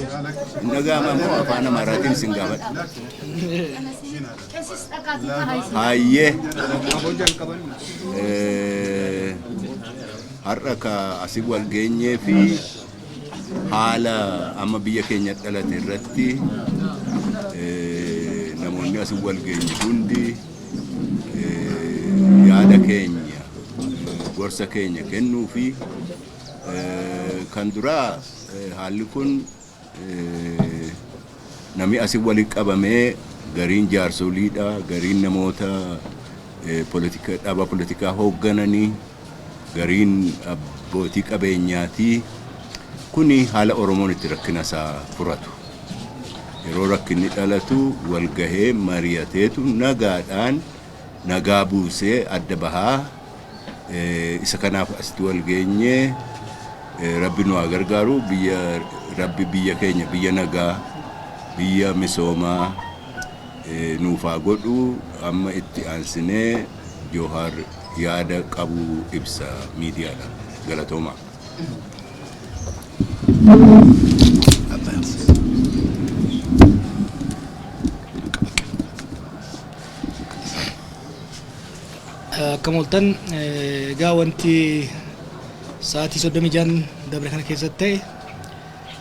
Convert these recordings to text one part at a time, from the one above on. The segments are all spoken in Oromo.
Hin dhaga'ama immoo afaan Amaaraatiin isin gaafadha. Hayyee. Eh, Har'a ka asii wal geenyee fi haala amma biyya keenya dhalate irratti eh, namoonni asii wal geenye hundi eh, yaada keenya eh, gorsa keenya kennuu fi Kan duraa haalli kun namni asi walitti qabamee gariin jaarsoliidha, gariin namoota dhaaba politikaa hooggananii, gariin abbootii qabeenyaati. Kuni haala Oromoon itti rakkina isaa furatu. Yeroo rakkinni dhalatu walgahee mari'ateetu nagaadhaan nagaa buusee adda bahaa Isa kanaaf asitti wal geenye. Rabbi nu haa gargaaru. Biyya Rabbi biyya keenya biyya nagaa biyya misoomaa eh, nuuf haa godhu. Amma itti aansinee Joohaar yaada qabu ibsa miidiyaadha. Galatoomaa. Akkam ooltan egaa wanti sa'aatii 36 dabre kana keessatti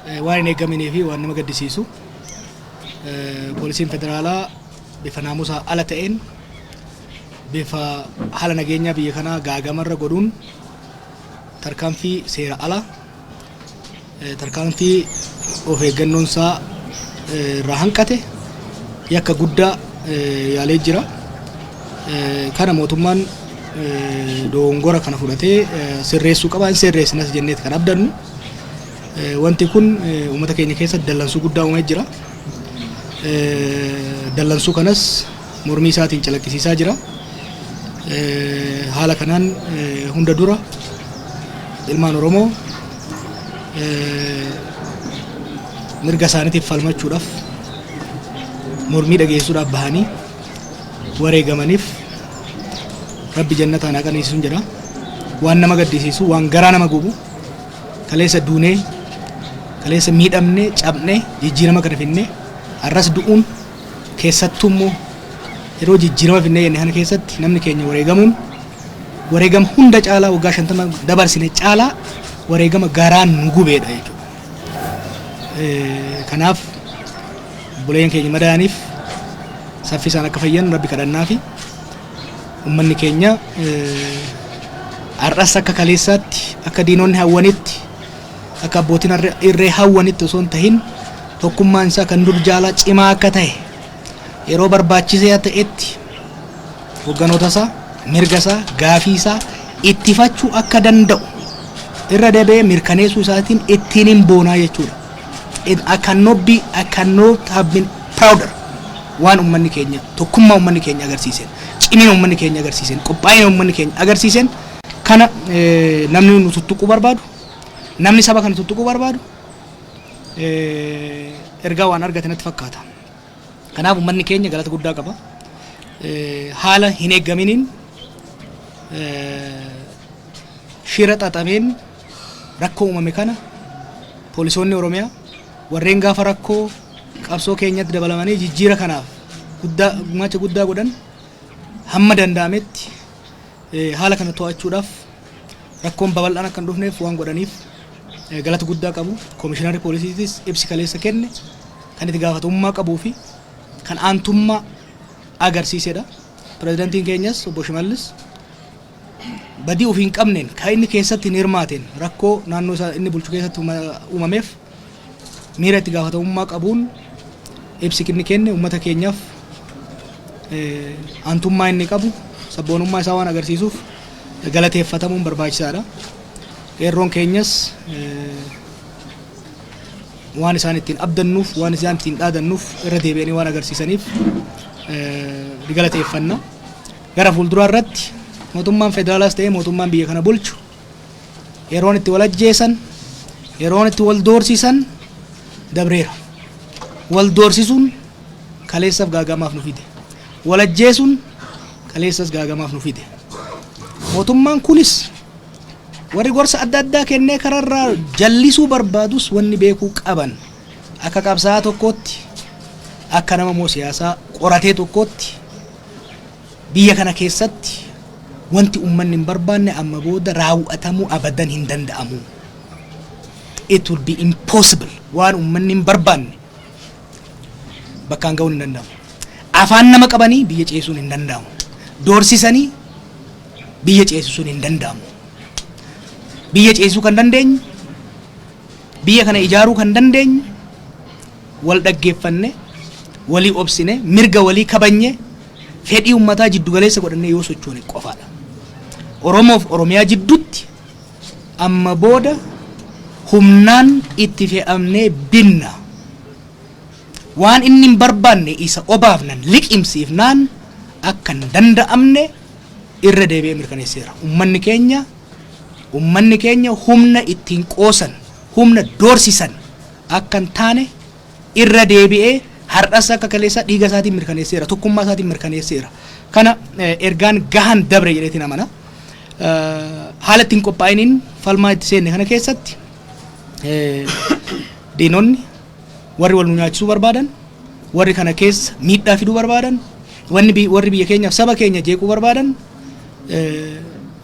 ta'e waan hin eegaminee fi waan nama gaddisiisu poolisiin federaalaa bifa naamusaa ala ta'een bifa haala nageenyaa biyya kanaa gaagamarra godhuun tarkaanfii seera ala Tarkaanfii of eeggannoon isaa irraa hanqate yakka guddaa yaalee jira. Kana mootummaan dogongora kana fudhatee sirreessuu qaba. Hin sirreessinas jenneeti kan abdannu. Wanti kun uummata keenya keessatti dallansuu guddaa uumee jira. Dallansuu kanas mormii isaatiin calaqqisiisaa jira. Haala kanaan hunda dura ilmaan Oromoo mirga isaaniitiif falmachuudhaaf mormii dhageessuudhaaf bahanii wareegamaniif rabbi jannataan haa qananiisun jedha. Waan nama gaddisiisu, waan garaa nama gubu, kaleessa duunee, kaleessa miidhamnee, cabnee, jijjiirama kana finnee, har'as du'uun Keessattuu immoo yeroo jijjiirama finnee jenne kana keessatti namni keenya wareegamuun wareegama hunda caalaa waggaa 50 dabarsine caalaa wareegama garaan nu gubeedha jechuudha. Kanaaf buleen keenya madaa'aniif saffisaan akka fayyan rabbi kadhannaa fi ummanni keenya har'as akka kaleessaatti akka diinonni hawwanitti Akka abbootiin irree hawwanitti osoo hin tahin tokkummaan isaa kan dur jaalaa cimaa akka tahe yeroo barbaachisee ta'etti hogganoota isaa mirga isaa gaafii isaa ittifachuu akka danda'u irra deebi'ee mirkaneessuu isaatiin ittiin hin boonaa jechuudha. It, I cannot be, I cannot have been prouder waan ummanni keenya tokkummaa ummanni keenya agarsiiseen cimina ummanni keenya agarsiiseen qophaa'ina ummanni keenya agarsiiseen kana eh, namni nu tuttuquu barbaadu Namni saba kana tuttuquu barbaadu ergaa waan argate natti fakkaata. Kanaaf uummanni keenya galata guddaa qaba. Haala hin eeggaminiin shira xaxameen rakkoo uumame kana poolisoonni Oromiyaa warreen gaafa rakkoo qabsoo keenyatti dabalamanii jijjiira kanaaf guddaa gumaacha guddaa godhan hamma danda'ametti haala kana to'achuudhaaf rakkoon babal'aan akka hin dhufneef waan godhaniif galata guddaa qabu. Komishinarri poolisiitis ibsi kaleessa kenne kan itti gaafatamummaa qabuu fi kan aantummaa agarsiisedha. Pirezidantiin keenyas obbo Shimallis badii ofii hin qabneen kan inni keessatti hin hirmaateen rakkoo naannoo isaa inni bulchu keessatti uumameef Miira itti gaafatamummaa qabuun ibsi inni kenne uummata keenyaaf aantummaa inni qabu sabboonummaa isaa waan agarsiisuuf galateeffatamuun barbaachisaadha. Qeerroon keenyas waan isaan ittiin abdannuuf waan isaan ittiin dhaadannuuf irra deebi'anii waan agarsiisaniif ni galateeffanna. Gara fuulduraa irratti mootummaan federaalaas ta'ee mootummaan biyya kana bulchu yeroon itti wal ajjeesan yeroon itti wal doorsisan dabreera wal doorsisuun kaleessaf gaagamaaf nu fide wal ajjeesuun kaleessas gaagamaaf nu fide mootummaan kunis warri gorsa adda addaa kennee kararraa jallisuu barbaadus wanni beekuu qaban akka qabsaa'aa tokkootti akka nama moo siyaasaa qoratee tokkootti Biyya kana keessatti wanti ummanni hin barbaanne amma booda raaw'atamuu abadan hin danda'amu. It will be impossible. Waan ummanni hin barbaanne bakkaan ga'uun hin danda'amu. Afaan nama qabanii biyya ceesisuun hin danda'amu. Doorsisanii biyya ceesisuun hin danda'amu. Biyya ceesisuu kan dandeenyu, biyya kana ijaaruu kan dandeenyu wal dhaggeeffannee, walii obsinee, mirga walii kabajnyee, fedhii uummataa jiddu galeessa godhannee yoo sochoone qofaa dha. Oromoof Oromiyaa jidduutti amma booda humnaan itti fe'amnee binna. Waan inni hin barbaanne isa obaafnan, liqimsiifnaan akka hin danda'amne irra deebi'ee mirkaneesseera. Uummanni keenya, uummanni keenya humna ittiin qoosan, humna doorsisan akka hin taane irra deebi'ee har'as akka kaleessaa dhiiga isaatiin mirkaneesseera, tokkummaa isaatiin mirkaneesseera. Kana ergaan gahaan dabre jedheetiin amana. Haala ittiin qophaa'iniin falmaa itti seenne kana keessatti diinonni warri wal nu nyaachisuu barbaadan, warri kana keessa miidhaa fiduu barbaadan, warri biyya keenyaaf saba keenya jeequu barbaadan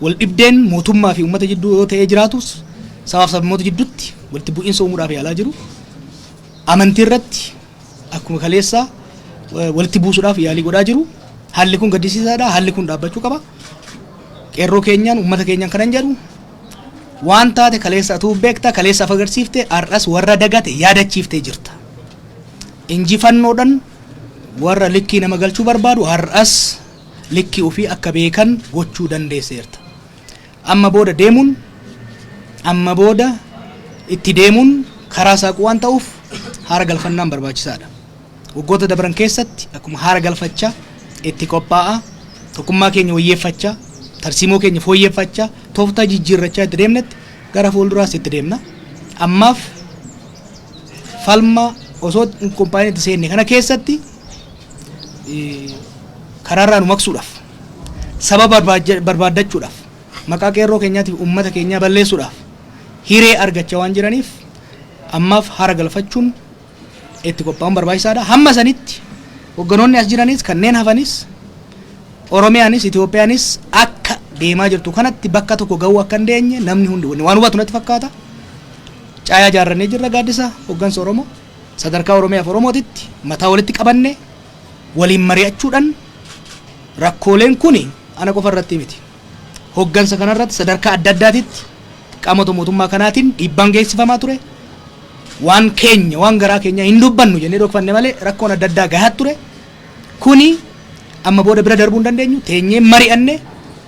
waldhibdeen mootummaa fi uummata jidduu yoo ta'ee jiraatus sabaaf sabmoota jidduutti walitti bu'iinsa uumuudhaaf yaalaa jiru. Amantii irratti akkuma kaleessaa walitti buusuudhaaf yaalii godhaa jiru. Haalli kun gaddisiisaadha. Haalli kun dhaabbachuu qaba. Qeerroo keenyaan uummata keenyaan kanan jedhu waan taate kaleessa atuu beekta kaleessa af agarsiifte har'as warra dagate yaadachiiftee jirta. Injifannoodhaan warra likkii nama galchuu barbaadu har'as Likkii ofii akka beekan gochuu dandeesseerta. Amma booda deemuun, amma booda itti deemuun karaa saaquu waan ta'uuf haara galfannaan barbaachisaadha. Waggoota dabran keessatti akkuma haara galfachaa, itti qophaa'aa, tokkummaa keenya wayyeeffachaa, tarsiimoo keenya fooyyeffachaa, tooftaa jijjiirrachaa itti deemnetti gara fuulduraas itti deemna. Ammaaf falma osoo hin qophaa'in itti seenne kana keessatti, karaarraa nu maqsuudhaaf saba barbaaddachuudhaaf maqaa qeerroo keenyaatiif uummata keenyaa balleessuudhaaf hiree argachaa waan jiraniif ammaaf hara galfachuun itti qophaa'uun barbaachisaadha. Hamma sanitti hogganoonni as jiranis kanneen hafanis Oromiyaanis Itoophiyaanis akka deemaa jirtu kanatti bakka tokko ga'uu akka hin deenye namni hundi waan hubatu natti fakkaata. Caayaa jaarrannee jirra gaaddisa hoggansa Oromoo. Sadarkaa Oromiyaaf Oromootitti mataa walitti qabanne waliin mari'achuudhan rakkooleen kuni ana qofa irratti miti. Hoggansa kana irratti sadarkaa adda addaatitti qaamota mootummaa kanaatiin dhiibbaan geessifamaa ture. Waan keenya, waan garaa keenyaa hin dubbannu jennee dhokfanne malee rakkoon adda addaa gahaa ture. Kuni amma booda bira darbuu hin dandeenyu. Teenyee mari'anne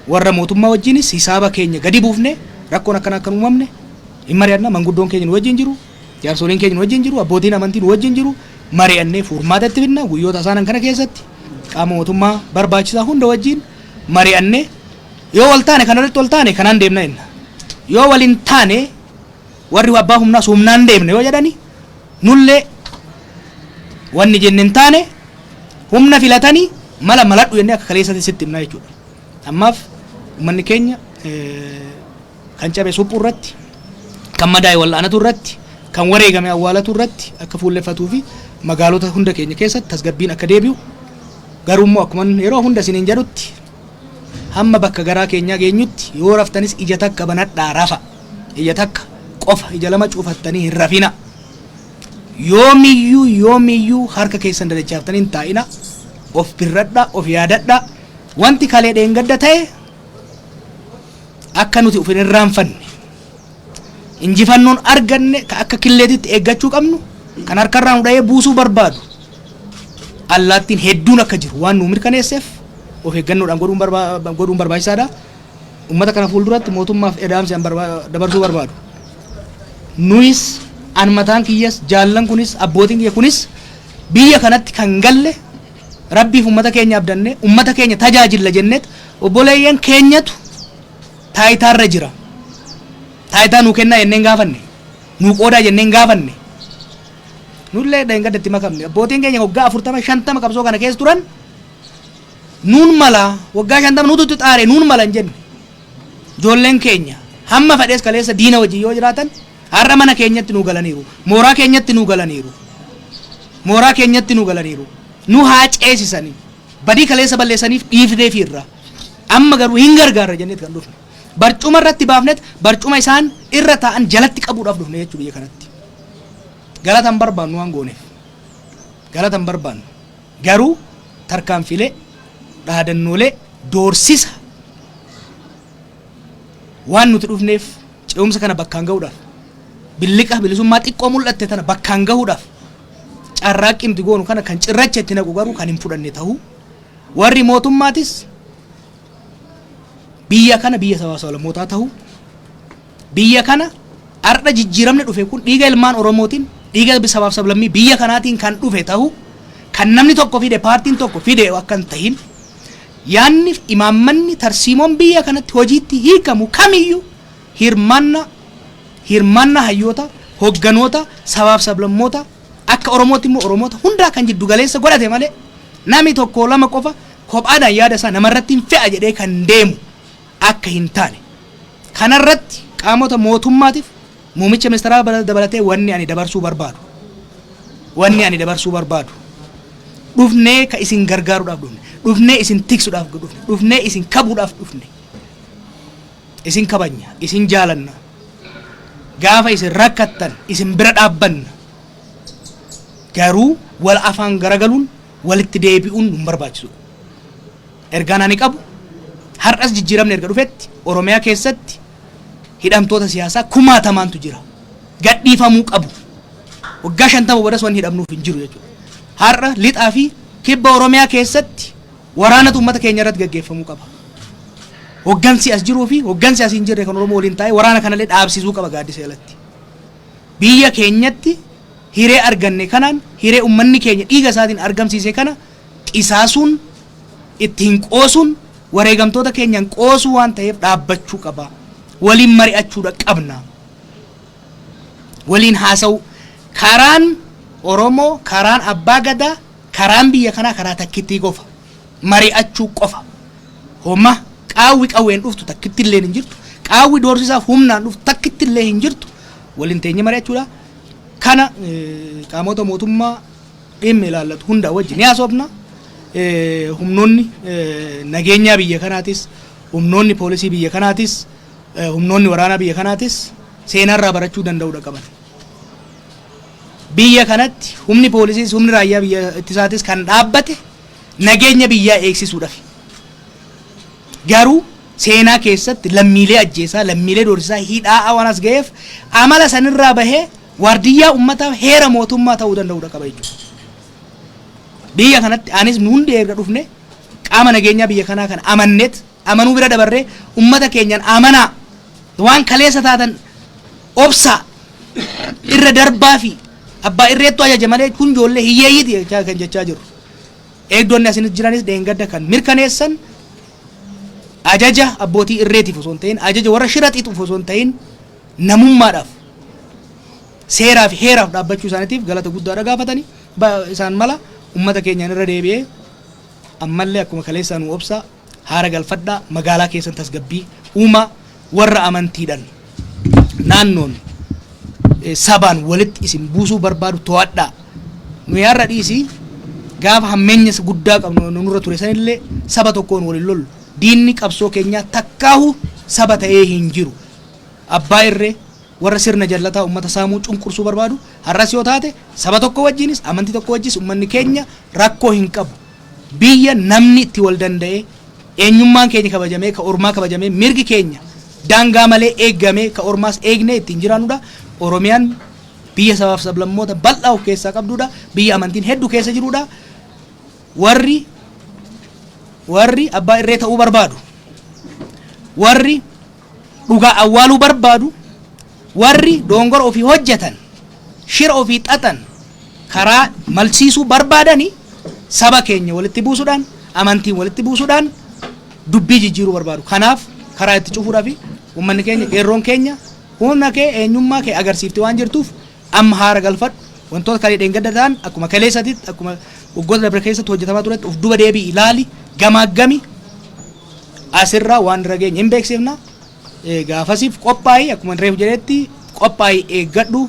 warra mootummaa wajjiinis hisaaba keenya gadi buufnee rakkoon akkanaa akka hin uumamne hin mari'anna. Manguddoon keenya nu wajjiin jiru. Jaarsoliin keenya nu wajjin jiru, abbootiin amantii nu wajjin jiru, mari'annee furmaata itti fidna. Guyyoota isaanan kana keessatti qaama mootummaa barbaachisaa hunda wajjin mari'annee yoo wal taane kana irratti wal taane kanaan deemna jenna. Yoo wal hin taane warri abbaa humnaas humnaan deemna yoo jedhani nullee wanni jenne hin taane humna filatanii mala maladhu jennee akka kaleessatti sitti himnaa jechuudha. Ammaaf uummanni keenya eh, kan cabe suphuu irratti, kan madaa'e wal'aanatuu irratti, kan wareegame awwaalatuu irratti akka fuulleffatuu fi magaalota hunda keenya keessatti tasgabbiin akka deebi'u, garuu immoo akkuman yeroo hunda isiniin jedhutti hamma bakka garaa keenyaa geenyutti yoo raftanis ija takka banadhaa rafa, ija takka qofa ija lama cufattanii hin rafina. Yoomiyyuu yoomiyyuu harka keessan dadachaaftanii hin taa'ina, of birradhaa, of yaadadhaa, wanti kalee dheengadda ta'e akka nuti of hin irraanfanne injifannoon arganne ka akka killeetitti eeggachuu qabnu kan harkarraa nu dha'ee buusuu barbaadu allaattiin hedduun akka jiru waan nu mirkaneesseef of eeggannoodhaan godhuun barba- godhuun barbaachisaadha. Uummata kana fuulduratti mootummaaf edaamsi an barba- dabarsuu barbaadu. Nuyis an mataan kiyyas jaallan kunis abbootiin kiyya kunis biyya kanatti kan galle Rabbiif ummata keenya abdanne, ummata keenya tajaajilla jennet obboleeyyan keenyatu taayitaarra jira. Taayitaa nuu kennaa jennee hin gaafanne. Nuu qoodaa jennee hin gaafanne. Nullee dheengadda itti makamne. Abbootiin keenya waggaa afurtama shantama qabsoo kana keessa turan nuun mala waggaa shantama nutu itti xaare nuun mala hin jenne. Ijoolleen keenya hamma fedhees kaleessa diina wajjin yoo jiraatan Har'a mana keenyatti nuu galaniiru. Mooraa keenyatti nuu galaniiru. Mooraa keenyatti nuu galaniiru. Nu haa ceesisanii. Badii kaleessa balleessaniif dhiifneefiirra. Amma garuu hin gargaarra jenneet kan dhufne. Barcuma irratti baafnet barcuma isaan irra taa'an jalatti qabuudhaaf dhufne jechuu biyya kanatti. Galata hin barbaannu waan gooneef. Galata hin barbaannu. Garuu tarkaanfiilee, dhaadannoolee, doorsisa waan nuti dhufneef Ce'umsa kana bakkaan gahuudhaaf, billiqa bilisummaa xiqqoo mul'atte tana bakkaan gahuudhaaf carraaqqii nuti goonu kana kan cirracha itti naqu garuu kan hin fudhanne ta'uu warri mootummaatis biyya kana biyya sabaa sablammootaa ta'uu biyya kana har'a jijjiiramni dhufe kun dhiiga ilmaan Oromootiin dhiiga sabaaf sablammii biyya kanaatiin kan dhufe ta'uu kan namni tokko fide paartiin tokko fide akka hin tahin Yaadnif imaammanni tarsiimoon biyya kanatti hojiitti hiikamu kamiyyuu hirmaannaa hirmaannaa hayyoota, hogganoota, sabaaf sablammoota, akka Oromootti immoo Oromoota hundaa kan jiddu galeessa godhate malee nami tokkoo lama qofa kophaadhaan yaada isaa namarrattin fe'a jedhee kan deemu akka hin taane kanarratti qaamota mootummaatif Muumicha ministaraa dabalatee wanni ani dabarsuu barbaadu wanni ani dabarsuu barbaadu dhufnee ka isin gargaaruudhaaf dhufne dhufnee isin tiksuudhaaf dhufne dhufnee isin kabuudhaaf dhufne isin kabanya isin jaalanna gaafa isin rakkattan isin bira dhaabbanna garuu wal afaan garagaluun walitti deebi'uun nun barbaachisu. Ergaan ani qabu har'as jijjiiramni erga dhufetti Oromiyaa keessatti hidhamtoota siyaasaa kumaatamaantu jira. Gadhiifamuu qabu. Waggaa 50 boodas wanni hidhamnuuf hin jiru jechuudha. Har'a lixaa fi kibba Oromiyaa keessatti waraanatu uummata keenya irratti gaggeeffamuu qaba. Hoggansi as jiruu fi hoggansi as hin jirre kan Oromoo waliin taa'ee waraana kanallee dhaabsisuu qaba gaaddisa jalatti. Biyya keenyatti hiree arganne kanaan hiree uummanni keenya dhiiga isaatiin argamsiise kana qisaasuun, ittiin qoosuun wareegamtoota keenyan qoosuu waan ta'eef dhaabbachuu qaba. Waliin mari'achuudha qabna. Waliin haasa'uu. Karaan Oromoo, karaan Abbaa Gadaa, karaan biyya kanaa karaa takkittii qofa. Mari'achuu qofa. Homa qaawwi qawween dhuftu takkitti illee hin jirtu. Qaawwi doorsisaaf humnaan dhuftu takkitti illee hin jirtu. Waliin teenye mari'achuudha. Kana eh, qaamota mootummaa dhimmi ilaallatu hundaa wajji ni haasofna. Humnoonni nageenyaa biyya kanaatis, humnoonni poolisii biyya kanaatis, humnoonni waraanaa biyya kanaatis seenaarraa barachuu danda'uudha qaban. Biyya kanatti humni poolisiis humni raayyaa biyya ittisaatis kan dhaabbate nageenya biyyaa eegsisuudhaaf. Garuu seenaa keessatti lammiilee ajjeesaa, lammiilee doorsisaa, hidhaa waan as ga'eef amala sanirraa bahee waardiyyaa ummataa heera mootummaa ta'uu danda'udha qaba jechuudha. Biyya kanatti anis nu hundi erga dhufne qaama nageenyaa biyya kanaa kan amanneet amanuu bira dabarree ummata keenyaan amanaa waan kaleessa taatan obsaa irra darbaa fi abbaa irreettu ajaja malee kun ijoollee hiyyeeyyiiti jechaa kan jechaa jirru. Eegdonni asinis jiranis dheengadda kan mirkaneessan ajaja abbootii irreetiif osoo hin ta'in ajaja warra shira xixuuf osoo hin ta'in namummaadhaaf seeraa fi heeraaf dhaabbachuu isaaniitiif galata guddaadha gaafatani Ba- isaan mala ummata keenyaan irra deebi'ee ammallee akkuma kaleessaa nu obsaa haara galfadhaa magaalaa keessan tasgabbii uumaa warra amantiidhaan naannoon eh, sabaan walitti isin buusuu barbaadu to'adhaa nu yaarra dhiisii gaafa hammeenya isa guddaa qabnu nu- nurra ture sanillee saba tokkoon waliin lollu diinni qabsoo keenyaa takkaahu saba ta'ee hin jiru Abbaa irree, warra sirna jallataa ummata saamuu, cunqursuu barbaadu, har'as yoo taate saba tokko wajjiinis, amantii tokko wajjiis ummanni keenya rakkoo hin qabu. Biyya namni itti wal danda'ee, eenyummaan keenya kabajamee, ka ormaa kabajamee, mirgi keenya daangaa malee eegamee, ka ormaas eegnee ittiin jiraannu dha. Oromiyaan biyya sabaa fi sablammoota bal'aa of keessaa qabdu dha. Biyya amantiin heddu keessa jiru dha. Warri warri abbaa irree ta'uu barbaadu, warri dhugaa awwaaluu barbaadu warri doongora ofii hojjetan shira ofii xaxan karaa malsiisuu barbaadani saba keenya walitti buusuudhaan amantiin walitti buusuudhaan dubbii jijjiiruu barbaadu kanaaf karaa itti cufuudhaa fi uummanni keenya qeerroon keenya humna kee eenyummaa kee agarsiifte waan jirtuuf amma haara galfadhu wantoota kalee dheengadda ta'an akkuma kaleessatitti akkuma waggoota dabre keessatti hojjetamaa turetti of duba deebii ilaali gamaaggami asirraa waan irra geenye hin beeksifna. Eh, Gaafasiif qophaa'ii akkuma reef jedhetti qophaa'ii eeggadhu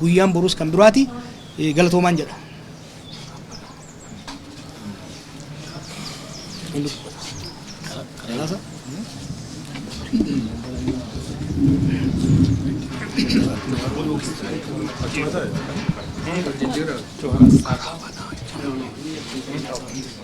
guyyaan boruus kan biraati Eh, galatoomaan jedha. Thank you.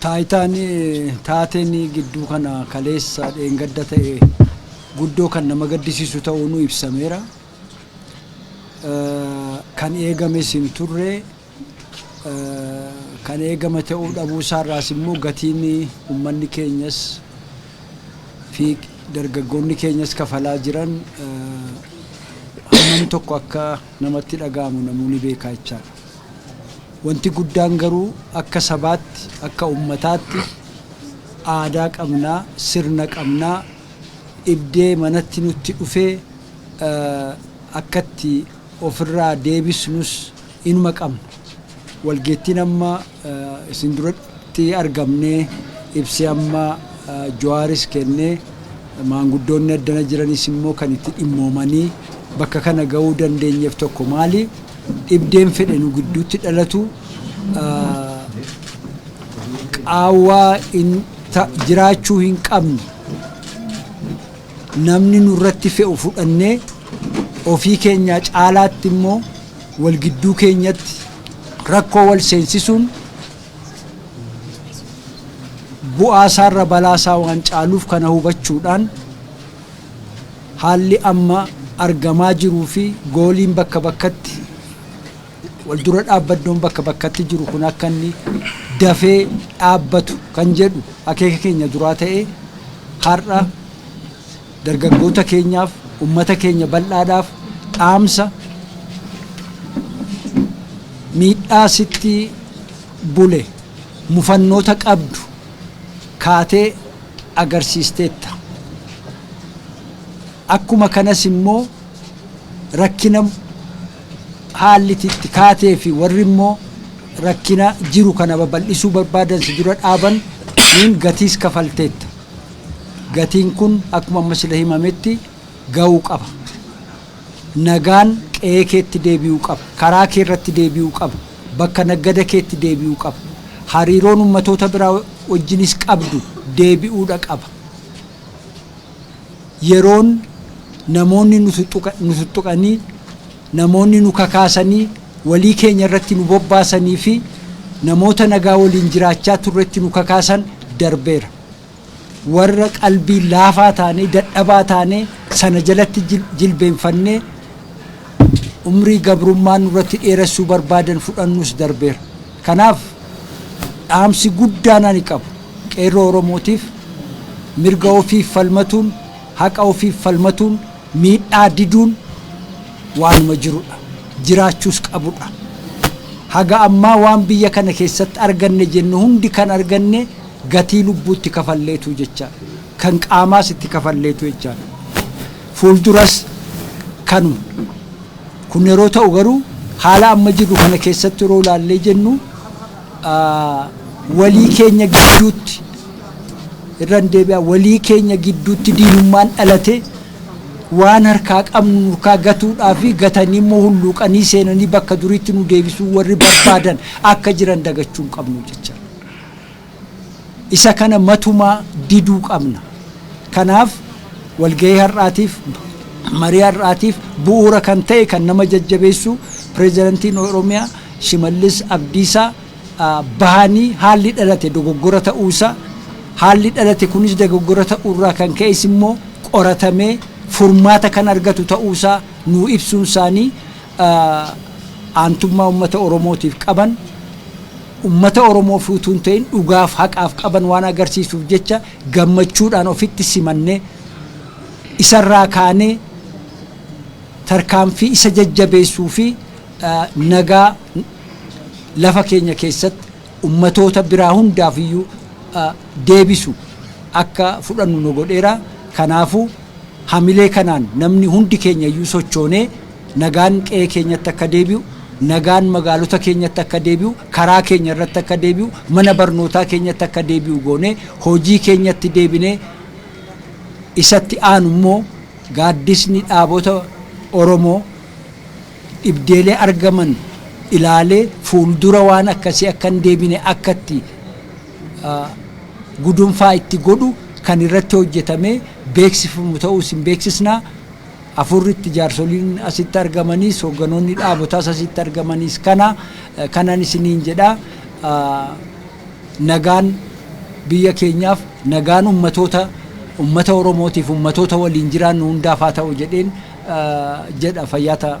Taayitaan taateen gidduu kana kaleessa dheengadda ta'e guddoo kan nama gaddisiisu ta'uun ibsameera. Kan eegames hin turre kan eegame ta'uu dhabuu isaa irraas immoo gatiin ummanni keenyas fi dargaggoonni keenyas kafalaa jiran hammam tokko akka namatti dhaga'amu namuu ni beekaa jechaadha. Wanti guddaan garuu akka sabaatti, akka ummataatti aadaa qabnaa, sirna qabnaa, dhibdee manatti nutti dhufee akka itti ofirraa deebisnus inuma qabna. Walgeettiin amma isin duratti argamnee ibsi amma Jawaaris kenne maanguddoonni addana jiranis immoo kan itti dhimmoomanii bakka kana ga'uu dandeenyeef tokko maali? Dhibdeen fedhe nu gidduutti dhalatu qaawwaa jiraachuu hin qabne. Namni nurratti fe'u fudhannee ofii keenyaa caalaatti immoo wal gidduu keenyatti rakkoo wal seensisuun bu'aa isaarra balaa isaa waan caaluuf kana hubachuudhaan haalli amma argamaa jiruu fi gooliin bakka bakkatti Waldura dhaabbaddoon bakka bakkatti jiru kun akka inni dafee dhaabbatu kan jedhu akeeka keenya duraa ta'ee har'a dargaggoota keenyaaf, ummata keenya bal'aadhaaf dhaamsa miidhaa sitti bule mufannoota qabdu kaatee agarsiisteetta. Akkuma kanas immoo rakkina haalli itti kaatee fi warri immoo rakkina jiru kana babal'isuu barbaadan si dura dhaaban niin gatiis kafalteetta. Gatiin kun akkuma amma sila himametti ga'uu qaba. Nagaan qe'ee keetti deebi'uu qaba. Karaa kee irratti deebi'uu qaba. Bakka naggada keetti deebi'uu qaba. Hariiroon ummatoota biraa wajjinis qabdu deebi'uudha qaba. yeroon namoonni nu tuttuqanii, namoonni nu kakaasanii walii keenya irratti nu bobbaasanii fi namoota nagaa waliin jiraachaa turretti nu kakaasan darbeera. Warra qalbiin laafaa taanee, dadhabaa taanee sana jalatti jilbeenfannee umrii gabrummaa nurratti dheeressuu barbaadan fudhannus darbeera. Kanaaf dhaamsi guddaan ani qabu Qeerroo Oromootiif mirga ofiif falmatuun, haqa ofiif falmatuun, miidhaa diduun waanuma jirudha. Jiraachuus qabudha. Haga ammaa waan biyya kana keessatti arganne jennu hundi kan arganne gatii lubbuu itti kafalleetu jecha. kan qaamaas itti kafalleetu jechaadha. Fuulduras kanuma. Kun yeroo ta'u garuu haala amma jirru kana keessatti yeroo ilaallee jennu walii keenya gidduutti irran deebi'a walii keenya gidduutti diinummaan dhalate waan harkaa qabnu nurkaa gatuudhaa fi gatanii immoo hulluuqanii seenanii bakka duriitti nu deebisuu warri barbaadan akka jiran dagachuu hin qabnu jecha. Isa kana matumaa diduu qabna. Kanaaf walgahii har'aatiif, marii har'aatiif bu'uura kan ta'e kan nama jajjabeessu Pireezidantiin Oromiyaa Shimallis Abdiisaa bahanii haalli dhalate dogoggora ta'uu isaa, haalli dhalate kunis dogoggora ta'uu irraa kan ka'es immoo qoratamee furmaata kan argatu ta'uu isaa nuu ibsuun isaanii, aantummaa ummata Oromootiif qaban, ummata Oromoof utuu hin ta'in dhugaaf haqaaf qaban waan agarsiisuuf jecha gammachuudhaan ofitti simannee, isarraa kaanee tarkaanfii isa jajjabeessuu fi nagaa lafa keenya keessatti ummatoota biraa hundaaf iyyuu deebisu akka fudhannu nu godheera. Kanaafuu. Hamilee kanaan namni hundi keenya iyyuu sochoonee nagaan qe'ee keenyatti akka deebi'u, nagaan magaalota keenyatti akka deebi'u, karaa keenya irratti akka deebi'u, mana barnootaa keenyatti akka deebi'u goonee hojii keenyatti deebinee isatti aanu immoo gaaddisni dhaabota Oromoo dhibdeelee argaman ilaalee fuuldura waan akkasii akka hin deebine akka itti gudunfaa itti godhu kan irratti hojjetamee beeksifamu ta'uu isin beeksisna. Afuurritti jaarsoliin asitti argamaniis hoogganoonni dhaabotaas asitti argamaniis kana kanan isiniin jedha nagaan biyya keenyaaf nagaan ummatoota ummata Oromootiif ummatoota waliin jiraannu hundaaf haa ta'u jedheen jedha fayyaa ta'a.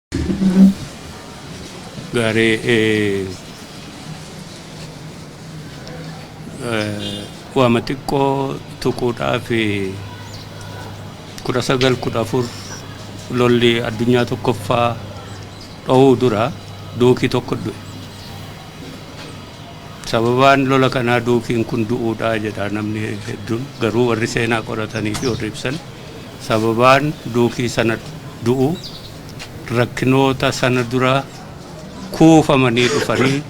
Gaarii waama xiqqoo tuquudhaaf kudha sagal kudha afur lolli addunyaa tokkoffaa dhohuu dura duukii tokko du'e. Sababaan lola kanaa duukiin kun du'uudhaa jedha namni hedduun garuu warri seenaa qoratanii fi warri ibsan. Sababaan duukii sana du'u rakkinoota sana dura kuufamanii dhufanii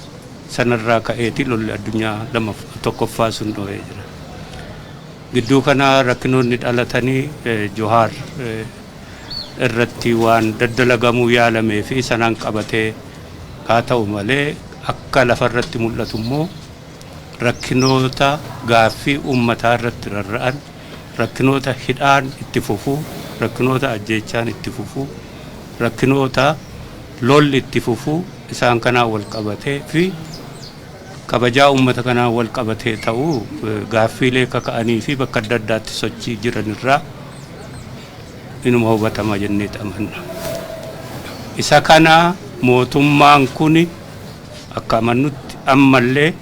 sanarraa ka'eeti lolli addunyaa lamaf tokkoffaa sun dhohee jira. Gidduu kana rakkinoonni dhalatanii Johaar irratti waan daddalagamuu yaalamee fi sanaan qabatee haa ta'u malee akka lafarratti mul'atu immoo rakkinoota gaaffii uummataa irratti rarra'an rakkinoota hidhaan itti fufu, rakkinoota ajjeechaan itti fufu, rakkinoota lolli itti fufu isaan kanaan wal qabatee fi kabajaa uummata kanaan wal qabatee ta'u gaaffiilee kaka'anii fi bakka adda addaatti sochii jiran irraa inuma hubatama jenneet amanna. Isa kana mootummaan kun akka amannutti ammallee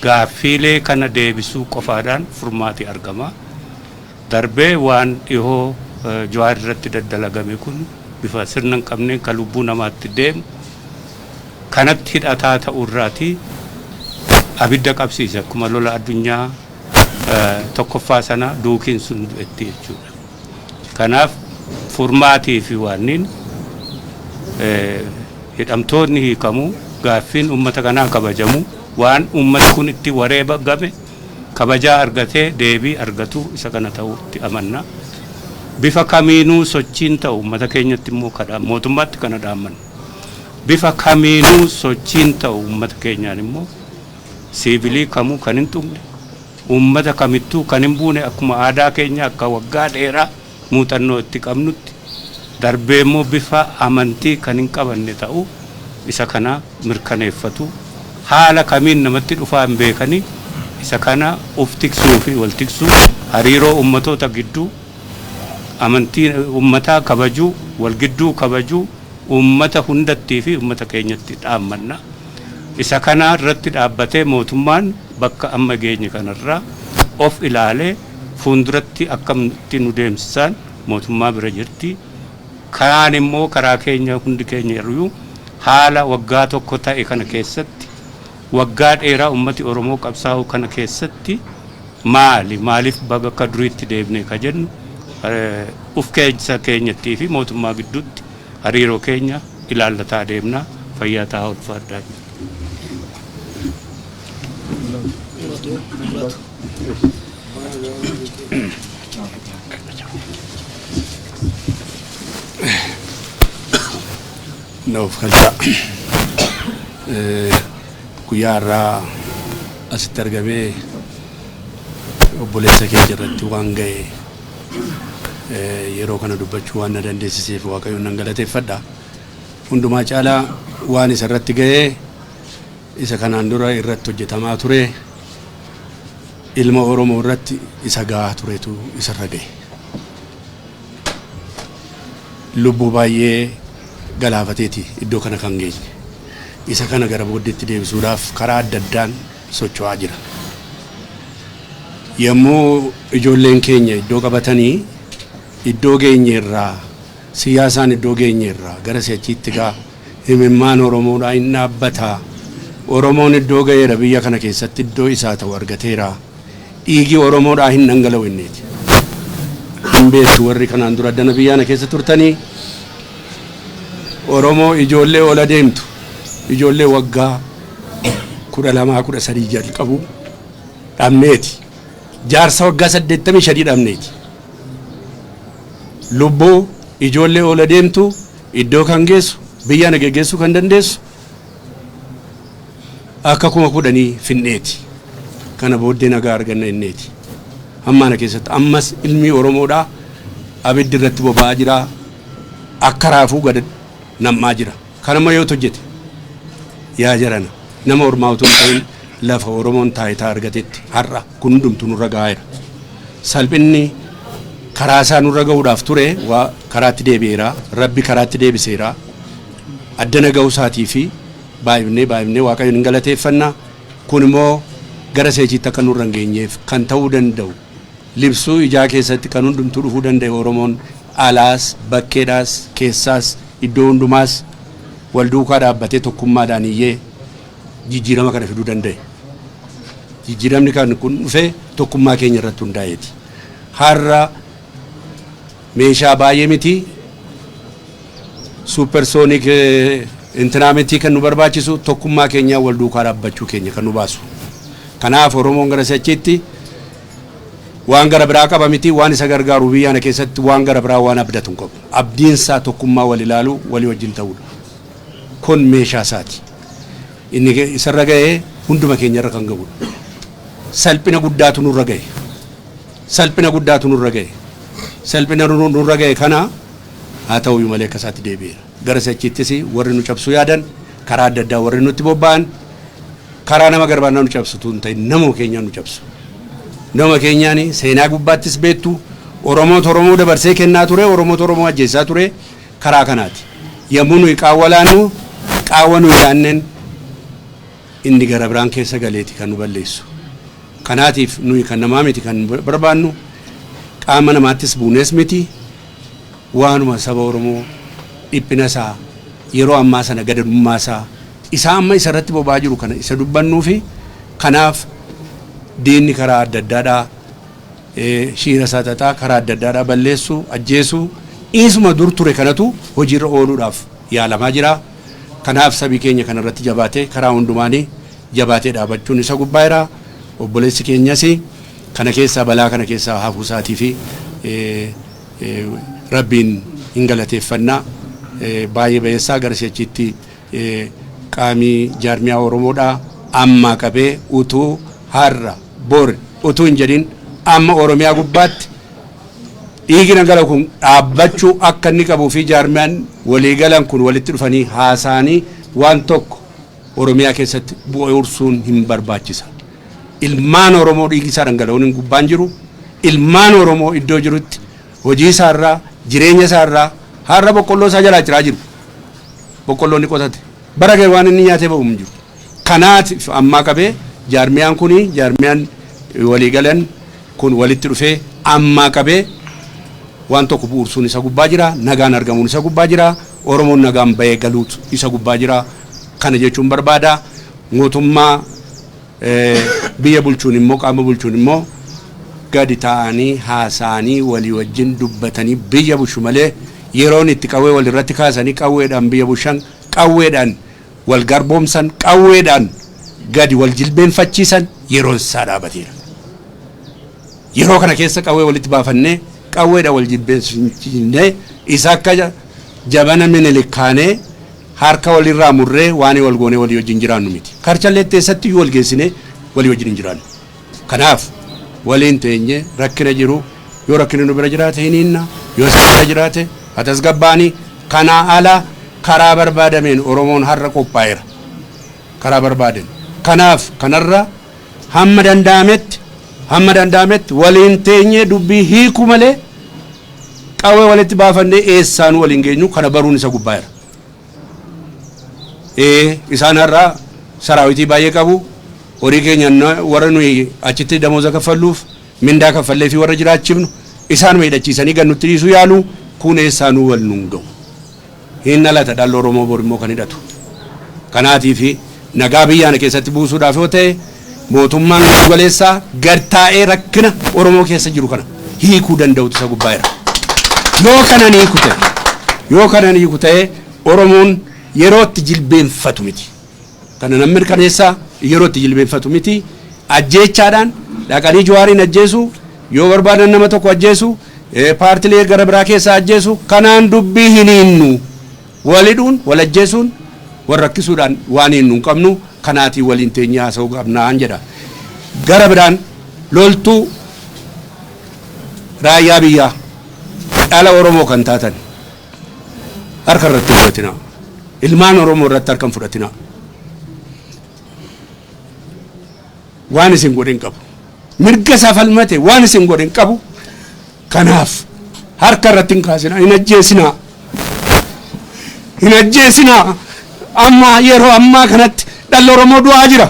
Gaaffiilee kana deebisuu qofaadhaan furmaati argama. Darbee waan dhihoo Jawaar irratti daddalagame kun bifa sirna hin qabneen ka lubbuu namaatti deemu kanatti hidhataa ta'uu irraati abidda qabsiise akkuma lola addunyaa tokkoffaa sana duukiin sun du'etti jechuudha. Kanaaf furmaatii fi waanniin hidhamtoonni hiikamuu, gaaffiin ummata kanaa kabajamuu, waan ummati kun itti wareebagame kabajaa argatee deebii argatuu isa kana ta'uu itti amanna. Bifa kamiinuu sochiin ta'u ummata keenyatti immoo kadha mootummaatti kana dhaammanna. Bifa kamiinuu sochiin ta'u ummata keenyaan immoo siivilii kamuu kan hin tuqne, Uummata kamittuu kan hin buune akkuma aadaa keenya akka waggaa dheeraa muuxannoo itti qabnutti darbee immoo bifa amantii kan hin qabanne ta'uu isa kana mirkaneeffatu. Haala kamiin namatti dhufaa hin beekanii isa kana uf tiksuu fi wal tiksuu, hariiroo uummatoota gidduu, amantii uummataa kabajuu, wal gidduu kabajuu uummata hundattii fi uummata keenyatti dhaammanna. Isa kana irratti dhaabbatee mootummaan bakka amma geenye kana irraa of ilaalee fuunduratti akkamitti nu deemsisaan mootummaa bira jirti. Karaan immoo karaa keenya hundi keenya irruu haala waggaa tokko ta'e kana keessatti waggaa dheeraa ummati Oromoo qabsaa'uu kana keessatti maali maaliif baga akka duriitti deebine ka jennu uf keessa keenyattii fi mootummaa gidduutti Hariiroo keenya ilaallataa deemna. Fayyaa tahaa ulfaadhaa jenna. Nuuf galchaa. Guyyaa har'aa asitti argamee obboleessa keenya irratti waan ga'e. yeroo kana dubbachuu waan na dandeessiseef waaqayyoon nan galateeffadha. Hundumaa caalaa waan isa irratti ga'ee isa kanaan dura irratti hojjetamaa ture ilma Oromoo irratti isa ga'aa turetu isarra ga'e. Lubbuu baay'ee galaafateeti iddoo kana kan geenye. Isa kana gara booddeetti deebisuudhaaf karaa adda addaan socho'aa jira. Yommuu ijoolleen keenya iddoo qabatanii iddoo geenye irraa siyaasaan iddoo geenye irraa gara si'achiitti gaa imimmaan Oromoodhaa in dhaabbataa Oromoon iddoo ga'eera biyya kana keessatti iddoo isaa ta'u argateera dhiigi Oromoodhaa hin dhangala'u inneeti. Hin beektu warri kanaan dura addana biyyaana keessa turtanii Oromoo ijoollee ol adeemtu ijoollee waggaa 12 13 jalqabu dhabneeti jaarsa waggaa 85 dhabneeti lubbuu ijoollee oola deemtu iddoo kan geessu biyya na geggeessuu kan dandeessu akka kuma kudhanii finneeti kana booddee nagaa arganna inneeti hammaana keessatti ammas ilmii oromoodhaa abiddi irratti boba'aa jira akka raafuu gad nam'aa jira. Kana ma yoot hojjete? Yaa jarana, nama ormaa utuu hin ta'in lafa Oromoon taayitaa argatetti har'a kun hundumtuu nurra ga'aaera. Salphinni karaa isaa nurra ga'uudhaaf ture waa karaatti deebi'eera, Rabbi karaatti deebiseera. Addana ga'uu isaatii fi baay'ifnee baay'ifnee Waaqayyoon in galateeffanna. Kun immoo gara seechiitti akka nurra hin geenyeef kan ta'uu danda'u. libsuu ijaa keessatti kan hundumtuu dhufuu danda'e Oromoon alaas, bakkeedhaas, keessaas, iddoo hundumaas wal duukaa dhaabbatee tokkummaadhaan iyyee jijjiirama kana fiduu danda'e. Jijjiiramni kan kun dhufe tokkummaa keenya irratti hundaa'eeti. Har'a meeshaa baay'ee miti Supersonic intinaa miti kan nu barbaachisu tokkummaa keenyaa wal duukaa dhaabbachuu keenya kan nu baasu. Kanaaf Oromoon gara si'achiitti waan gara biraa qaba miti waan isa gargaaru biyya kana keessatti waan gara biraa waan abdatu hin qabu. Abdiinsaa tokkummaa wal ilaaluu walii wajjin ta'uudha. Kun meeshaa isaati. Inni isarra ga'e hunduma keenyarra kan ga'udha. Salphina guddaatu nurra ga'e. Salphina guddaatu nurra ga'e. Salphina nurra ga'e kana Haa ta'uuyyu malee akka isaatti deebi'eera. Gara si'achiittis warri nu cabsuu yaadan, karaa adda addaa warri nutti bobba'an, karaa nama garbaannaa nu cabsu utuu hin ta'in namuma keenyaan nu cabsu. Namuma keenyaan seenaa gubbaattis beektu Oromootu Oromoo dabarsee kennaa ture, Oromootu Oromoo ajjeessaa ture karaa kanaati. Yommuu nuyi qaawwa laannu qaawwa nuyi laanneen inni gara biraan keessa galeeti kan nu balleessu. Kanaatiif nuyi kan namaa miti kan barbaannu qaama namaattis buunees miti. waanuma saba Oromoo dhiphina isaa yeroo ammaa sana gadadummaa isaa isaa amma isa irratti boba'aa jiru kana isa dubbannuufi kanaaf diinni karaa adda addaadhaa shiira isaa xaxaa karaa adda addaadhaa balleessuu ajjeesuu isuma dur ture kanatu hojiirra ooluudhaaf yaalamaa jira kanaaf sabii keenya kana irratti jabaatee karaa hundumaanii jabaatee dhaabachuun isa gubbaa jira obboleessi keenyasi Kana keessaa balaa kana keessaa hafuu isaatiifi Rabbiin hin galateeffanna. Baay'ee bayeessaa gara si'achiitti qaamii jaarmiyaa Oromoodhaa ammaa qabee utuu har'a bor utuu hin jedhin amma Oromiyaa gubbaatti dhiigi dhangala'u kun dhaabbachuu akka inni qabuu fi jaarmiyaan walii galan kun walitti dhufanii haasaanii waan tokko Oromiyaa keessatti bu'uursuun hin barbaachisa. ilmaan Oromoo dhiigi isaa dhangala'uun hin gubbaan jiru. Ilmaan Oromoo iddoo jirutti hojii isaa irraa, jireenya isaa irraa har'a boqqolloo isaa jalaa ciraa jiru. Boqqolloo inni qotate bara ga'e waan inni nyaatee ba'u hin jiru. Kanaatiif ammaa qabee jaarmiyaan kun jaarmiyaan walii galan kun walitti dhufee ammaa qabee waan tokko bu'uursuun isa gubbaa jira. Nagaan argamuun isa gubbaa jira. Oromoon nagaan ba'ee galuutu isa gubbaa jira. Kana jechuun barbaada. Mootummaa biyya bulchuun immoo, qaama bulchuun immoo gadi taa'anii haasa'anii walii wajjin dubbatanii biyya bushu malee yeroon itti qawwee wal irratti kaasanii qawweedhaan biyya bushan, qawweedhaan wal garboomsan, qawweedhaan gadi wal jilbeenfachiisan yeroon isaa dhaabateera. Yeroo kana keessa qawwee walitti baafannee qawweedhaan wal jilbeenfachiisnee isa akka jabana Minilik kaanee Harka walirraa murree waanii wal goonee walii wajjin jiraannu miti. Karchalleetti eessattiyyuu wal geessinee walii wajjin hin jiraannu. Kanaaf, waliin teenyee rakkina jiru yoo rakkinni nu bira jiraate hin hiinna, yoo isaan bira jiraate haa tasgabbaa'ani. Kanaa ala karaa barbaadameen Oromoon har'a qophaa'eera. Karaa barbaadeen. Kanaaf, kanarra hamma danda'ametti hamma danda'ametti waliin teenyee dubbii hiikuu malee qawwee walitti baafannee eessaanuu wal hin geenyu. Kana baruun isa gubbaayeera. Ee, isaan har'a saraawitii baay'ee qabu. Horii keenya na- warra nuyi achitti damooza kaffalluuf mindaa kaffallee fi warra jiraachifnu isaanuma hidhachiisanii gad nutti dhiisuu yaalu. Kun eessaanuu wal nuun ga'u. Hin dhalata dhalli Oromoo bor immoo kan hidhatu. Kanaatiifi Nagaa biyya kana keessatti buusuudhaaf yoo ta'e mootummaan giddu galeessaa gad taa'ee rakkina Oromoo keessa jiru kana hiikuu danda'utu isa gubbaa jira. Yoo kana hin hiiku ta'e, yoo kana hin hiiku ta'e Oromoon yeroo itti jilbeenfatu miti. Kana nan mirkaneessa yeroo itti jilbeenfatu miti. Ajjeechaadhaan dhaqanii Jawaariin ajjeesu, yoo barbaadan nama tokko ajjeesu, eh, paartilee gara biraa keessaa ajjeesu kanaan dubbii hin hiinnu. Wal hidhuun, wal ajjeesuun, wal rakkisuudhaan waan hiinnu hin qabnu, kanaatii waliin teenyee haasa'uu qabna jedha. Gara biraan loltuu raayyaa biyyaa dhala Oromoo kan taatan harka irratti hin fudhatinaa. Ilmaan Oromoo irratti harka hin fudhatinaa. waan isin godhe hin qabu. Mirga isaa falmate waan isin godhe hin qabu. Kanaaf harka irratti hin kaasinaa, hin ajjeesinaa. Hin ajjeesinaa. Amma yeroo ammaa kanatti dhalli Oromoo du'aa jira.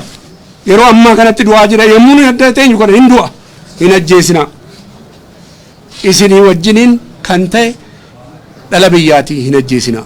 Yeroo ammaa kanatti du'aa jira. Yommuu nuyi adda teenyu kana hin du'a. Hin ajjeesinaa. Isinii wajjiniin kan ta'e dhala biyyaatii hin ajjeesinaa.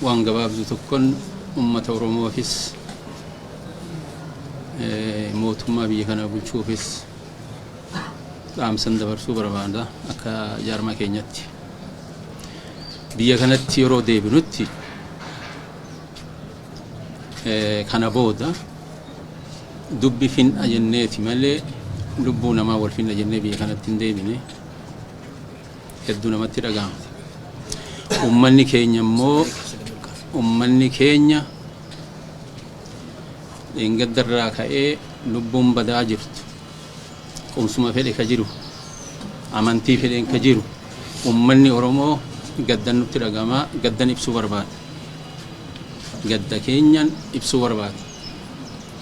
Waan gabaabdu tokkon ummata Oromoofis mootummaa biyya kana bulchuufis dhaamsan dabarsuu barbaada akka jaarmaa keenyatti. Biyya kanatti yeroo deebinutti kana booda dubbi fin'a jenneeti malee lubbuu namaa wal fin'a jennee biyya kanatti hin deebine. hedduu namatti dhaga'ama. Ummanni keenya immoo ummanni keenya dheengadda irraa ka'ee lubbuun badaa jirtu qubsuma fedhe ka jiru amantii fedheen ka jiru ummanni Oromoo gaddan nutti dhaga'ama gaddan ibsuu barbaada. Gadda keenyan ibsuu barbaada.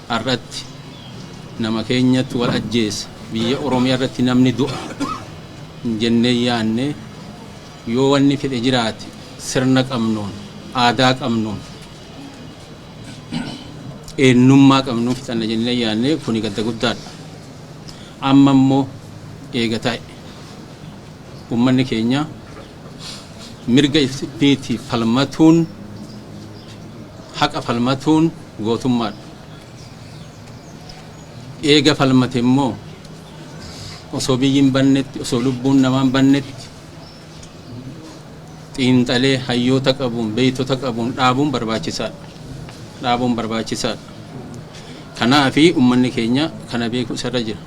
Har'atti nama keenyatti wal ajjeessa biyya Oromiyaa irratti namni du'a. hin jennee hin yaanne. Yoo wanni fedhe jiraate sirna qabnuun, aadaa qabnuun, eennummaa qabnuun fixanna jennee hin yaanne. Kuni gadda guddaadha. Amma immoo eega tahe ummanni keenya mirga ifiitiif falmatuun, haqa falmatuun gootummaadha. Eega falmate immoo. osoo biyyi hin bannetti osoo lubbuun namaa hin bannetti xiinxalee hayyoota qabuun beektota qabuun dhaabuun barbaachisaadha. Dhaabuun barbaachisaadha. Kanaafi ummanni keenya kana beeku isarra jira.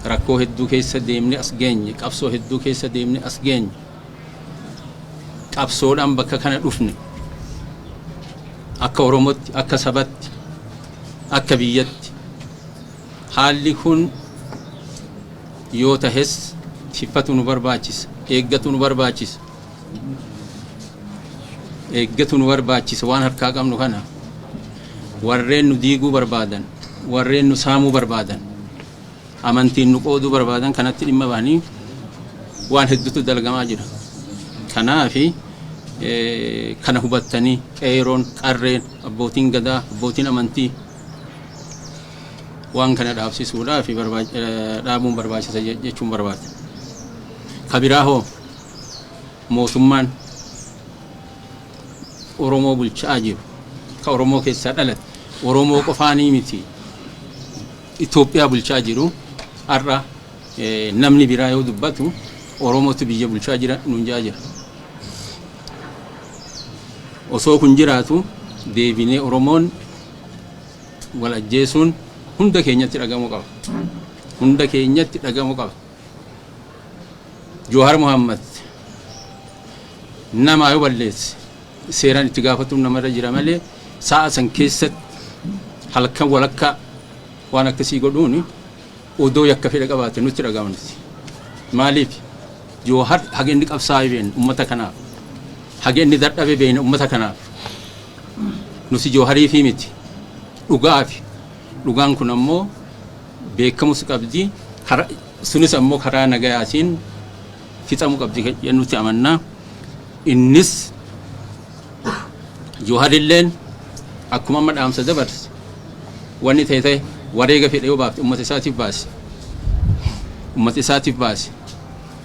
Rakkoo hedduu keessa deemne as geenye qabsoo hedduu keessa deemne as geenye qabsoodhaan bakka kana dhufne akka Oromootti akka sabatti akka biyyatti Haalli kun yoo tahes tikfatu nu barbaachisa, eeggatu nu barbaachisa, eeggatu nu barbaachisa waan harkaa qabnu kana warreen nu diiguu barbaadan, warreen nu saamuu barbaadan, amantiin nu qooduu barbaadan kanatti dhimma bahanii waan hedduutu dalagamaa jira. Kanaafi kana hubattanii qeeroon, qarreen, abbootiin gadaa, abbootiin amantii Waan kana dhaabsisuudhaaf dhaabuun barbaachisa jechuun barbaada. Ka biraa hoo mootummaan Oromoo bulchaa jiru ka Oromoo keessaa dhalate Oromoo qofaanii miti Itoophiyaa bulchaa jiru har'a namni biraa yoo dubbatu Oromootu biyya bulchaa jira nuun jaa jira. Osoo kun jiraatu deebinee Oromoon wal ajjeesuun hunda keenyatti dhagamu qaba. Hunda keenyatti dhagamu qaba. Joohar Muhammad namaa yoo balleesse seeraan itti gaafatuun namarra jira malee sa'a san keessatti halkan walakkaa waan akkasii godhuuni Odoo yakka fedha qabaate nutti dhaga'ama nuti. Maaliif? Joohar haga inni qabsaa'e beekna ummata kanaaf. Haga inni dadhabe beekna ummata kanaaf. Nuti Joohariifii miti. Dhugaafi. Dhugaan kun ammoo beekamus qabdi. Kara- Sunis ammoo karaa nagayaatiin fixamu qabdi jennutti amanna. Innis Jawharilleen akkuma amma dhaamsa dabarse wanni ta'e ta'e wareega fedhe yoo baafte ummata isaatiif baase. Ummata isaatiif baase.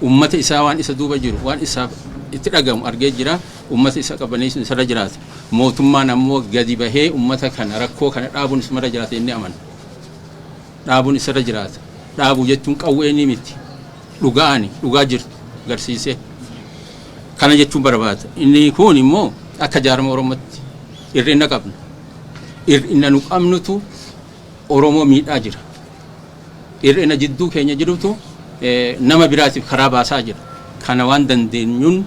Ummata isaa waan isa duuba jiru waan isaaf itti dhagamu argee jira. Ummata isa qabbaneessuun isarra jiraata. Mootummaan ammoo gadi bahee ummata kana rakkoo kana dhaabuun isarra jiraata jennee amanna. dhaabun isarra jiraata. Dhaabu jechuun qawweeni miti. Dhugaani, dhugaa jirtu garsiisee. Kana jechuun barbaada. Inni kuun immoo akka jaarma Oromotti ir'inna qabna. Ir'inna nu qabnutu Oromoo miidhaa jira. Ir'ina jidduu keenya jirutu nama biraatiif karaa baasaa jira. Kana waan dandeenyuun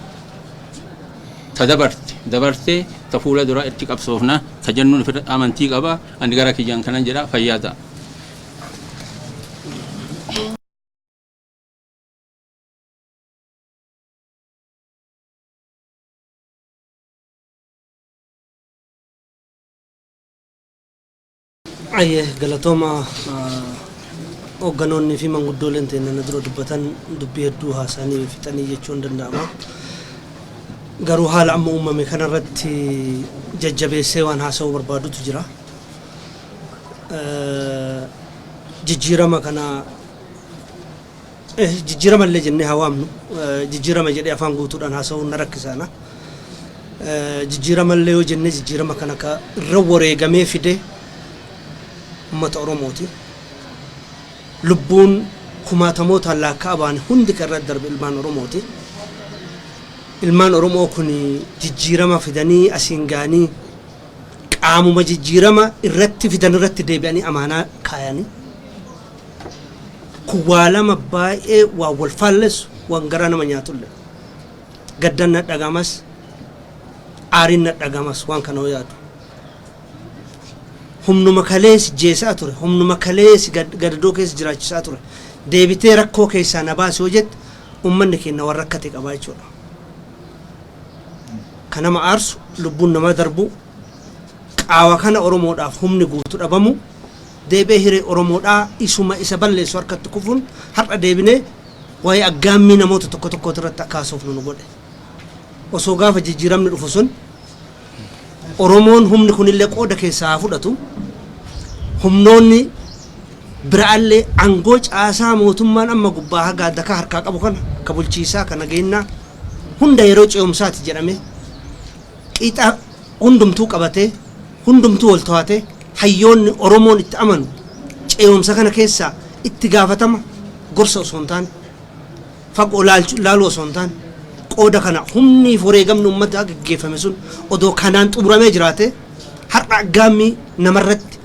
ta dabarte dabartee ta fuula duraa itti qabsoofna ta jennuun amantii qaba. Ani garaa kiyyaan kanan jedha fayyaa ta'a. Ayyee galatooma hoogganoonnii fi manguddooleen teenya na dura dubbatan dubbii hedduu haasa'anii fixanii jechuun danda'ama. Garuu haala amma uummame kanarratti jajjabeessee waan haasa'uu barbaadutu jira. Jijjiirama kana jijjiirama illee jennee haa waamnu. Jijjiirama jedhee afaan guutuudhaan haasa'uun na rakkisa ana. Jijjiirama illee yoo jennee jijjiirama kana ka irra wareegamee fide uummata Oromooti. Lubbuun kumaatamootaan laakka'amaan hundi kan irra darbe ilmaan Oromooti. Ilmaan Oromoo kun jijjiirama fidanii asiin ga'anii qaamuma jijjiirama irratti fidan irratti deebi'anii amaanaa kaayani. Kun waa lama baay'ee waan wal faallessu, waan garaa nama nyaatulle. Gaddan na dhaga'amas, aariin na dhaga'amas waan kana yoo yaadu. Humnuma kalee si jeesaa ture, humnuma kalee si gadadoo keessa jiraachisaa ture deebitee rakkoo keessaa na baasi yoo jette ummanni keenna waan rakkate qabaa jechuudha. Ka nama aarsu, lubbuun namaa darbuu, qaawa kana Oromoodhaaf humni guutu dhabamuu, deebi'ee hiree Oromoodhaa isuma isa balleessu harkatti kufuun har'a deebinee waa'ee aggaammii namoota tokko tokkootirratti akka haasofnu nu godhe. Osoo gaafa jijjiiramni dhufu sun Oromoon humni kunillee qooda keessaa haa fudhatu. Humnoonni biraallee aangoo caasaa mootummaan amma gubbaa haga adakaa harkaa qabu kana ka bulchiisaa ka nageennaa hunda yeroo ce'umsaati jedhamee qixa hundumtuu qabatee hundumtuu wal to'atee hayyoonni Oromoon itti amanu ce'umsa kana keessaa itti gaafatama gorsa osoo hin taane fagoo ilaalchu ilaaluu osoo hin taane qooda kana humnii fi wareegamni uummataa gaggeeffame sun odoo kanaan xumuramee jiraatee har'a aggaammii nama irratti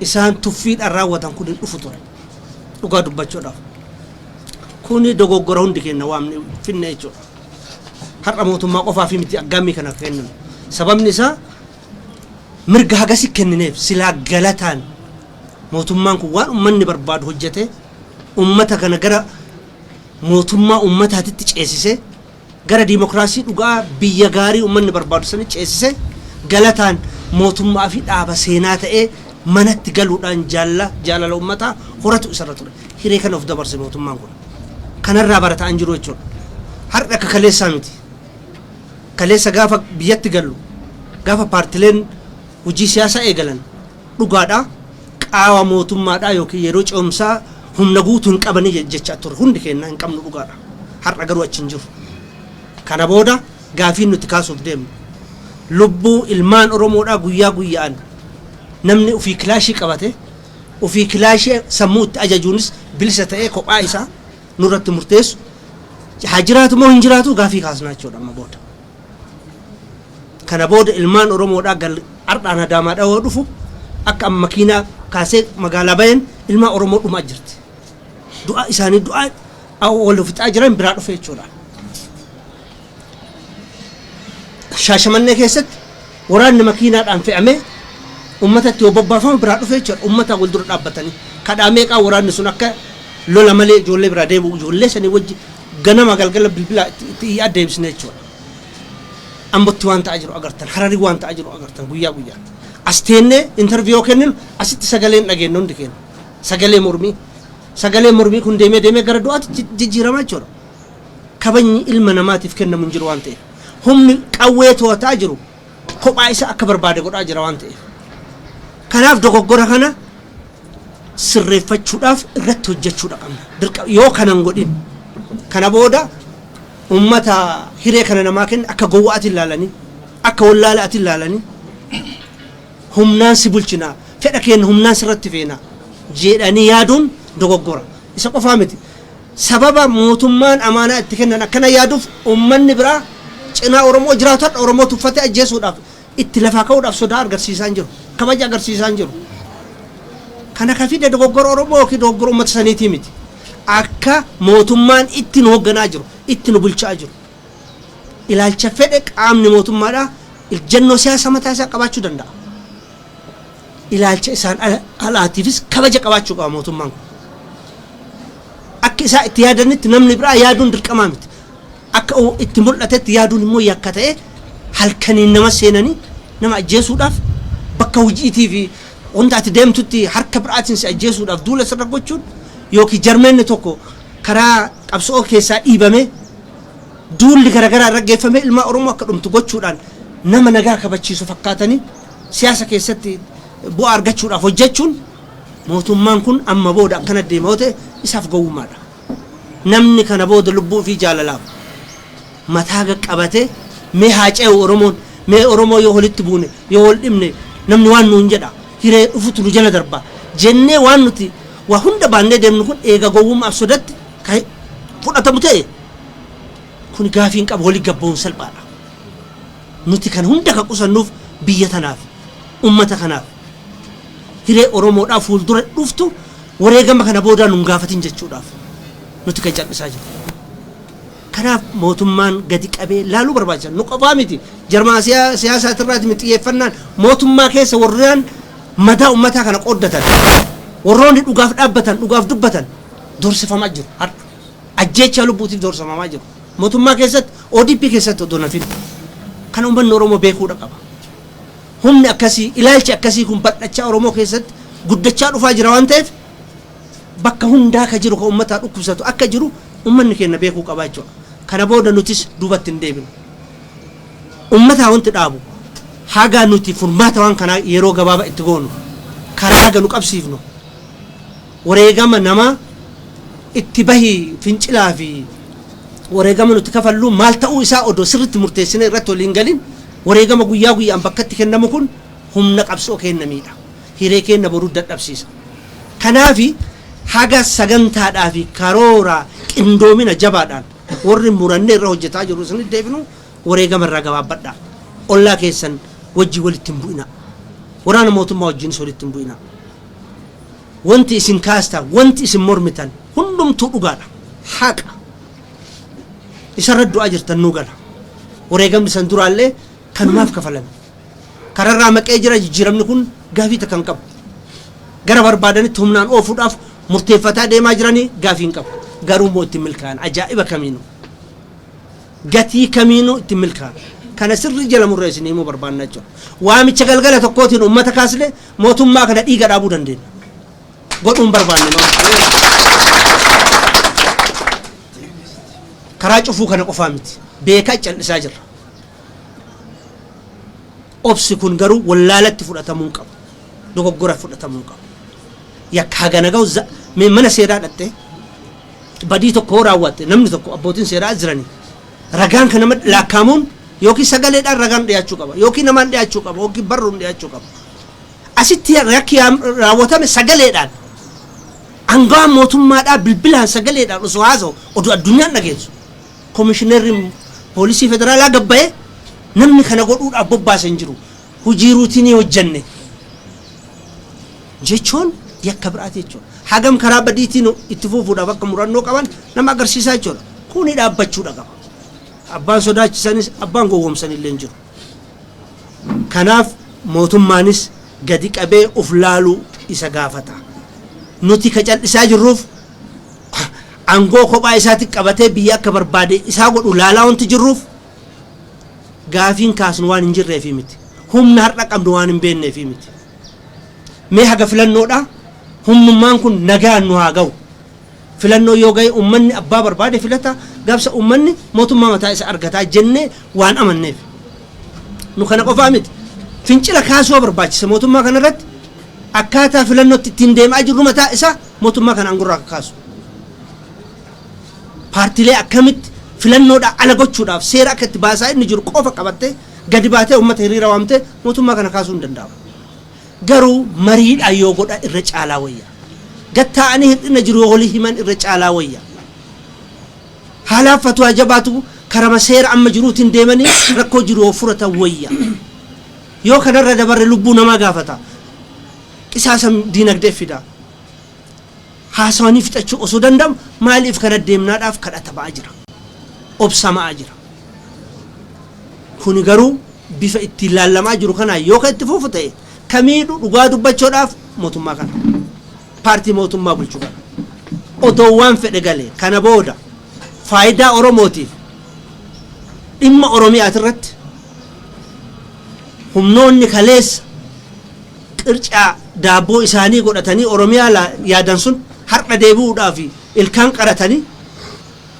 isaan tuffiidhaan raawwatan kun hin dhufu ture. Dhugaa dubbachuudhaaf. Kuni dogoggora hundi keenya waan finne jechuudha. Har'a mootummaa qofaa fi miti aggaammii kana akka kenninu. Sababni isaa mirga hagasi kennineef silaa galataan mootummaan kun waan uummanni barbaadu hojjetee ummata kana gara mootummaa ummataatitti ceesisee, gara dimokraasii dhugaa biyya gaarii ummanni barbaadu sanitti ceesisee, galataan mootummaa fi dhaaba seenaa ta'ee manatti galuudhaan jaalla jaalala ummataa horatu isarra ture. Hiree kana of dabarse mootummaan kun. Kanarraa barataa hin jiru jechuudha. Har'a akka kaleessaa miti. Kaleessa gaafa biyyatti gallu, gaafa paartileen hojii siyaasaa eegalan, dhugaadha qaawa mootummaadha yookiin yeroo ce'umsaa humna guutu hin qabani jechaa turre hundi keenya hin qabnu dhugaadha har'a garuu achi hin jiru kana booda gaafiin nuti kaasuuf deemnu lubbuu ilmaan oromoodhaa guyyaa guyya'an namni ofii kilaashii qabate ofii kilaashii sammuu itti ajajuunis bilisa ta'ee kophaa isaa nurratti murteessu haa jiraatu moo hin jiraatu gaafii kaasnaa jechuudha amma booda. Kana booda ilmaan Oromoodhaa gal har'aan Adaamaadhaa yoo dhufu akka amma makiinaa kaasee magaalaa bayeen ilmaan Oromoo dhumaa jirti. Du'a isaanii du'a wal fixaa jiran biraa dhufe jechuudha. Shaashamannee keessatti waraanni makiinaadhaan fe'amee ummatatti yoo bobbaafamu biraa dhufe jechuudha. Ummataa wal dura dhaabbatanii kadhaa meeqaa waraanni sun akka lola malee ijoollee biraa deebi'u ijoollee sanii wajji Ganama galgala bilbila itti iyyaa deebisna jechuudha. Ambotti waan ta'aa jiru agartan, Harari waan ta'aa jiru agartan guyyaa guyyaatti. As teennee interview yoo kenninu asitti sagalee hin dhageennu hundi keenya. Sagalee mormii. Sagaleen mormii kun deemee deemee gara du'aatti jijjiirama jechuudha. Kabajni ilma namaatiif kennamu hin jiru waan ta'eef. Humni qawwee to'ataa jiru kophaa isaa akka barbaade godhaa jira waan ta'eef. Kanaaf dogoggora kana sirreeffachuudhaaf irratti hojjechuudha qabna. Dirqama yoo kana hin godhin kana booda uummata hiree kana namaa kenna akka gowwaatiin ilaalanii akka wallaalaatiin ilaalanii humnaan si bulchinaa fedha keenya humnaan sirratti feenaa jedhanii yaaduun dogoggora. Isa qofaa miti. Sababa mootummaan amaanaa itti kennan akkana yaaduuf uummanni biraa cinaa Oromoo jiraatu har'a Oromoo tuffatee ajjeesuudhaaf itti lafaa ka'uudhaaf sodaa argarsiisaa hin jiru. Kabaja agarsiisaa hin jiru. Kana ka fide dogoggora Oromoo ykn dogoggora uummata saniitii miti. Akka mootummaan itti nu hogganaa jiru, itti nu bulchaa jiru. Ilaalcha fedhe qaamni mootummaadhaa iljjannoo siyaasa mataa isaa qabaachuu danda'a. Ilaalcha isaan alaatiifis kabaja qabaachuu qaba mootummaan kun. Akka isaan itti yaadanitti namni biraa yaaduun dirqamaa miti. Akka itti mul'atetti yaaduun immoo yakka ta'ee halkaniin nama seenanii nama ajjeesuudhaaf bakka hojiitii fi wanta ati deemtutti harka biraatiin si ajjeesuudhaaf duula sirra gochuun yookiin jarmeenni tokko karaa qabsoo keessaa dhiibamee duulli garaagaraa irra geeffamee ilmaa Oromoo akka dhumtu gochuudhaan nama nagaa kabachiisu fakkaatanii Siyaasa keessatti bu'aa argachuudhaaf hojjechuun mootummaan kun amma booda akkana deema yoo ta'e isaaf gowwummaadha. Namni kana booda lubbuu ofii jaalalaaf mataa gad qabatee mee haa ce'u Oromoon, mee Oromoo yoo walitti buune, yoo wal dhibne namni waan nuun jedha, hiree dhufutu nu jala darba jennee waan nuti waa hunda baannee deemnu kun eega gowwummaaf sodatti ka fudhatamu ta'e kuni gaafii hin qabu walitti gad ba'uun salphaadha. Nuti kana hunda kan qusannuuf biyya tanaaf, ummata kanaaf, hiree Oromoodhaa fuuldura dhuftu wareegama kana boodaa nun gaafatin jechuudhaaf nuti kan cal'isaa jirru. Kanaaf mootummaan gadi qabee laaluu barbaachisa. Nu qofaa miti, jarmaasiyaa siyaasaatirraati miti xiyyeeffannaan, mootummaa keessa warraan madaa ummataa kana qooddatan, warroonni dhugaaf dhaabbatan, dhugaaf dubbatan doorsifamaa jiru har'a. Ajjeechaa lubbuutiif doorsamamaa jiru. Motummaa keessatti odp keessatti odoo hin hafin kana ummanni Oromoo beekuudha qaba. Humni akkasii ilaalchi akkasii kun bal'achaa Oromoo keessatti guddachaa dhufaa jira waan ta'eef bakka hundaa ka jiru ka ummataa dhukkubsatu akka jiru ummanni keenna beekuu qabaa jechuudha. Kana booda nutis duubatti hin deebinu. Ummataa wanti dhaabu haga nuti furmaata waan kanaa yeroo gabaaba itti goonu karaa haga nu qabsiifnu Wareegama namaa itti bahi fincilaa fi wareegama nuti kafallu maal ta'uu isaa odoo sirritti murteessinee irratti walii hin galin wareegama guyyaa guyyaan bakkatti kennamu kun humna qabsoo keenna miidha. Hiree keenna boruu dadhabsiisa. Kanaafi haga sagantaadhaa fi karoora qindoomina jabaadhaan warri murannee irra hojjetaa jirru isinitti deebinu wareegama irraa gabaabbadhaa. Ollaa keessan wajjin walitti hin bu'inaa. Waraana mootummaa wajjiinis walitti hin bu'inaa. Wanti isin kaastaan, wanti isin mormitan hundumtuu dhugaadha. Haqa. Isarra du'aa jirtan nuu gala. Wareegamni san duraallee kanumaaf kafalame. Kararraa maqee jira jijjiiramni kun gaafii takka hin qabu. Gara barbaadanitti humnaan oofuudhaaf murteeffataa deemaa jiranii gaafii hin qabu. Garuu immoo itti milkaa'an ajaa'iba kamiinuu. Gatii kamiinuu itti milkaa'an. Kana sirrii jala murree isin himuu barbaanna jechuudha. Waamicha galgala tokkootiin uummata kaasne Mootummaa kana dhiiga dhaabuu dandeenya. Godhuu hin barbaanne malee. Karaa cufuu kana qofaa miti. Beekaa cal'isaa jirra. Obsi kun garuu wallaalatti fudhatamuu hin qabu. Dogoggora fudhatamuu hin qabu. Yakka hagana ga'u za- mee mana seeraa dhattee badii tokko yoo raawwatte namni tokko abbootiin seeraa jiranii ragaan kan nama laakkaamuun yookiin sagaleedhaan ragaan dhiyaachuu qaba yookiin namaan dhiyaachuu qaba yookiin barruun dhiyaachuu qaba. Asitti yakki raawwatame sagaleedhaan aangawaan mootummaadhaa bilbilaan sagaleedhaan osoo haasa'u oduu addunyaan dhageessu Komishinarri Poolisii Federaalaa gad ba'ee namni kana godhuudhaaf bobbaase hin jiru. Hojii ruutinii hojjenne jechuun yakka biraati jechuudha. Hagam karaa badiitiin itti fufuudhaaf akka murannoo qaban nama agarsiisaa jechuudha. Kuni dhaabbachuudha qaba. Abbaan sodaachisanis abbaan gowwoomsanillee hin jiru. Kanaaf mootummaanis gadi qabee of laaluu isa gaafata. Nuti ka cal'isaa jirruuf aangoo kophaa isaati qabatee biyya akka barbaade isaa godhu laalaa wanti jirruuf gaafiin kaasnu waan hin jirreefii miti. Humna har'a qabnu waan hin beekneefii miti. Mee haga filannoodhaa humnummaan kun nagaan nu haa gahu. Filannoon yoo gahe ummanni abbaa barbaade filata, gaafsa ummanni mootummaa mataa isa argata jennee waan amanneef. Nu kana qofaa miti. Fincila kaasua barbaachisa mootummaa kana irratti akkaataa filannootti ittiin deemaa jirru mataa isaa mootummaa kana aangorraa akka kaasu. Paartilee akkamitti filannoodhaa ala gochuudhaaf seera akka itti baasaa inni jiru qofa qabattee gadi baatee ummata hiriira waamtee mootummaa kana kaasuu hin danda'amu. Garuu mariidhaan yoo godhan irra caalaa wayya. Gad taa'anii hir'ina jiru yoo walii himan irra caalaa wayya. Haalaaf fatwaa jabaatu karama seera amma jiruutiin deemanii rakkoo jiru yoo furatan wayya. Yoo kanarra dabarre lubbuu namaa gaafata. Qisaasa diinagdee fida. Haasawanii fixachuu osoo danda'amu maaliif kana deemnaadhaaf kadhatamaa jira. Obsamaa jira. Kuni garuu bifa ittiin laallamaa jiru kanaan yoo kan itti fufu ta'e ka miidhu dhugaa dubbachoodhaaf mootummaa kana. Paartii mootummaa bulchu kana. Otoo waan fedhe galee kana booda faayidaa Oromootiif dhimma Oromiyaatirratti humnoonni kaleessa qircaa daabboo isaanii godhatanii Oromiyaa laa yaadan sun har'a deebi'uudhaaf ilkaan qaratanii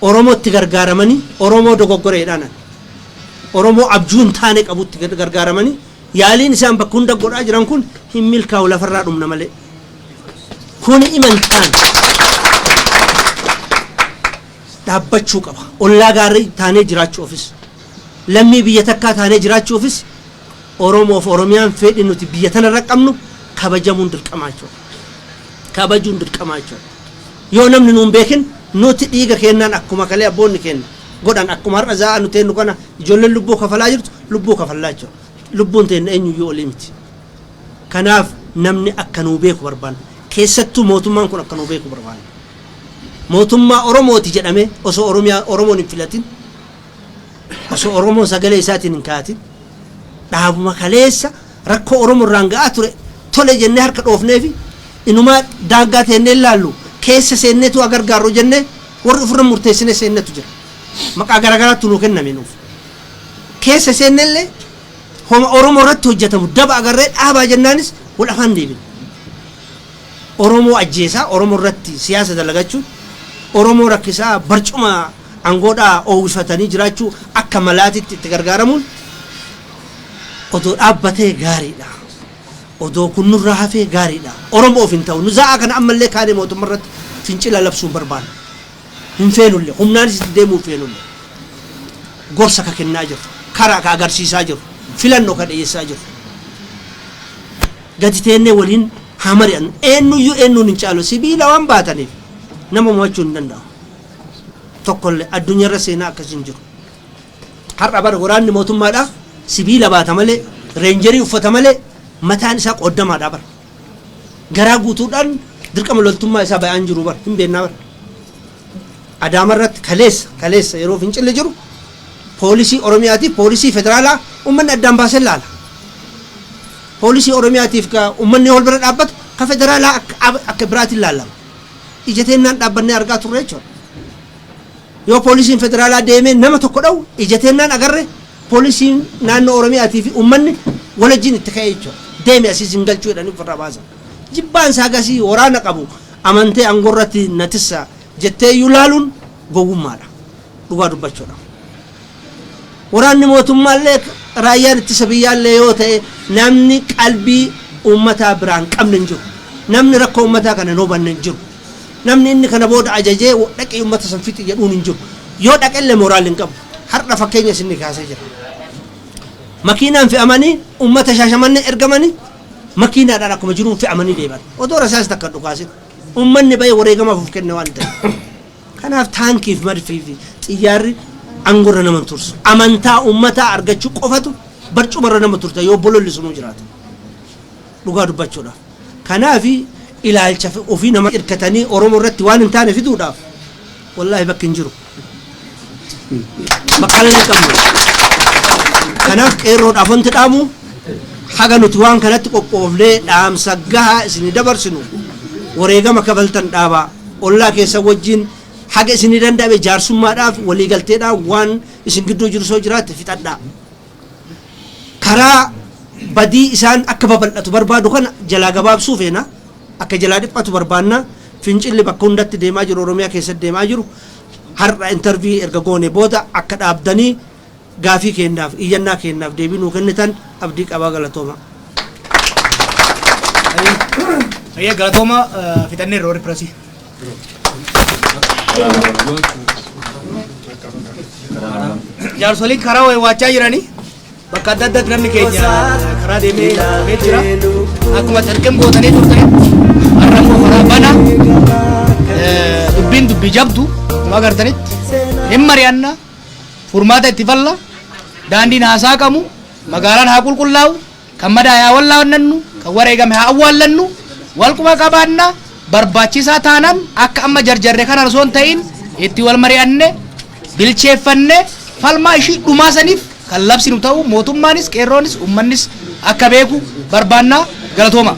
Oromootti gargaaramanii Oromoo dogoggora jedhaanan Oromoo abjuu hin taane qabutti gargaaramanii yaaliin isaan bakka hunda godhaa jiran kun hin milkaa'u lafarraa dhumna malee kuni imantaan dhaabbachuu qaba ollaa gaarii taanee jiraachuufis lammii biyya takkaa taanee jiraachuufis Oromoo fi Oromiyaan feedhi nuti biyya tana irra qabnu kabajamuun dirqamaa jechuu dha. Kabajuun dirqamaa jechuu dha. Yoo namni nu hin beekin nuti dhiiga keennaan akkuma kalee abboonni keenna godhan akkuma har'a zaa'aa nu teennu kana ijoolleen lubbuu kafalaa jirtu lubbuu kafallaa jechuu dha. Lubbuun teenna eenyuyyuu olii miti. Kanaaf namni akka nuu beeku barbaanna. Keessattuu mootummaan kun akka nuu beeku barbaanna. Mootummaa Oromooti jedhamee osoo Oromiyaa Oromoon hin filatin Osoo Oromoon sagalee isaatiin hin ka'atin dhaabuma kaleessa rakkoo Oromoo irraan ga'aa ture tole jennee harka dhoofneefi inumaa daangaa teennee hin laallu keessa seenneetu haa gargaarru jennee warri ofirra murteessinee seennetu jira. Maqaa garaagaraattu nuu kenname nuuf. Keessa seenne illee homa Oromoo irratti hojjetamu daba agarree dhaabaa jennaanis wal afaan deebine. Oromoo ajjeesaa Oromoo irratti siyaasa dalagachuun Oromoo rakkisaa barcuma Angoodhaa oowwifatanii jiraachuu akka malaatitti itti gargaaramuun odoo dhaabbatee gaariidha. Odoo kun nurraa hafee gaariidha. Oromoof hin ta'u. Nu za'aa kana ammallee kaanee mootumma irratti fincila labsuu hin barbaannu. Hin feenullee. Humnaanis itti deemuu hin feenullee. Gorsa ka kennaa jirru. Karaa ka agarsiisaa jirru. Filannoo ka dhiyeessaa jirru. Gadi teennee waliin haa mari'annu. Eennuyyuu eennuun hin caalu. Sibiila waan baataniif nama mo'achuun hin danda'amu. tokkolle addunyarra seenaa akkasii hin jiru. Har'a bar waraanni mootummaadha sibiila baata malee reenjerii uffata malee mataan isaa qooddamaadha bar. Garaa guutuudhaan dirqama loltummaa isaa bayaan jiru bar hin beennaa bar. Adaama irratti kaleessa kaleessa yeroo fincilli jiru poolisii Oromiyaatiif poolisii federaalaa ummanni addaan baasee laala. Poolisii Oromiyaatiif ka ummanni wal bira dhaabbatu ka federaalaa akka biraatiin laalama. ija teennaan dhaabbannee argaa turre jechuudha. Yoo poolisiin federaalaa deemee nama tokko dha'u ija teennaan agarre poolisiin naannoo Oromiyaatii fi uummanni walajjiin itti ka'ee jechuudha. Deemi asii sin galchuu jedhanii ofirraa baasan. Jibbaan isaa gasii waraana qabu amantee aangoo irratti na tissa jettee iyyuu laaluun gowwummaadha. Dhugaa dubbachuudha. Waraanni mootummaallee raayyaan ittisa biyyaallee yoo ta'e namni qalbii uummataa biraa hin qabne hin jiru. Namni rakkoo uummataa kana hin hubanne hin jiru. Namni inni kana booda ajajee dhaqii uummata san fixi jedhuun hin jiru. Yoo dhaqellee mooraalli hin qabu. Har'a fakkeenya isinni kaasee jira. Makiinaan fe'amanii uummata shaashamannee ergamanii makiinaadhaan akkuma jiruun fe'amanii deeman. Odoo rasaas takka hin dhukaasin. Uummanni ba'ee wareegamaaf of kenne waan ta'eef. Kanaaf taankiif madfiifi xiyyaarri angorra nama hin tursu. Amantaa ummataa argachuu qofatu barcumarra nama tursa yoo bololli sunuu jiraate. Dhugaa dubbachuudhaaf. Kanaaf ilaalcha ofii nama irkatanii Oromo irratti waan hin taane fiduudhaaf wallaahi bakki hin jiru. Bakkallee hin qabnu. Kanaaf qeerroodhaaf wanti dhaamu haga nuti waan kanatti qophoofnee dhaamsa gahaa isinii dabarsinu wareegama kafaltan dhaabaa. Ollaa keessan wajjin haga isinii danda'ame jaarsummaadhaaf waliigalteedhaan waan isin gidduu jiru soo jiraate fixadhaa. Karaa badii isaan akka babal'atu barbaadu kana jalaa gabaabsuu feena. Akka jalaa dhiphatu barbaanna. Fincilli bakka hundatti deemaa jiru Oromiyaa keessatti deemaa jiru har'a intervii erga goone booda akka dhaabdanii Gaafii keennaaf, iyyannaa keennaaf deebii nuu kennitan abdii qabaa galatoomaa. Hayyee galatooma fixanneerra warri pirasii. Jaarsoliin karaa waywaachaa jiranii bakka adda addaatti namni keenya karaa deemee ilaalamee jira. Akkuma salqeen bootanii turtan har'a immoo karaa bana dubbiin dubbii jabdu akkuma agartanitti hin mari'anna. furmaata itti falla, daandiin haa saaqamu, magaalaan haa qulqullaa'u, kan madaa'e haa wallaannannu, kan wareegame haa awwaallannu, wal quba qabaanna, barbaachisaa taanaan akka amma jarjarre kanaan osoo hin ta'iin itti wal mari'anne, bilcheeffanne, falmaa ishii dhumaa saniif kan labsinu ta'uu mootummaanis, qeerroonis, ummannis akka beeku barbaanna. Galatoomaa.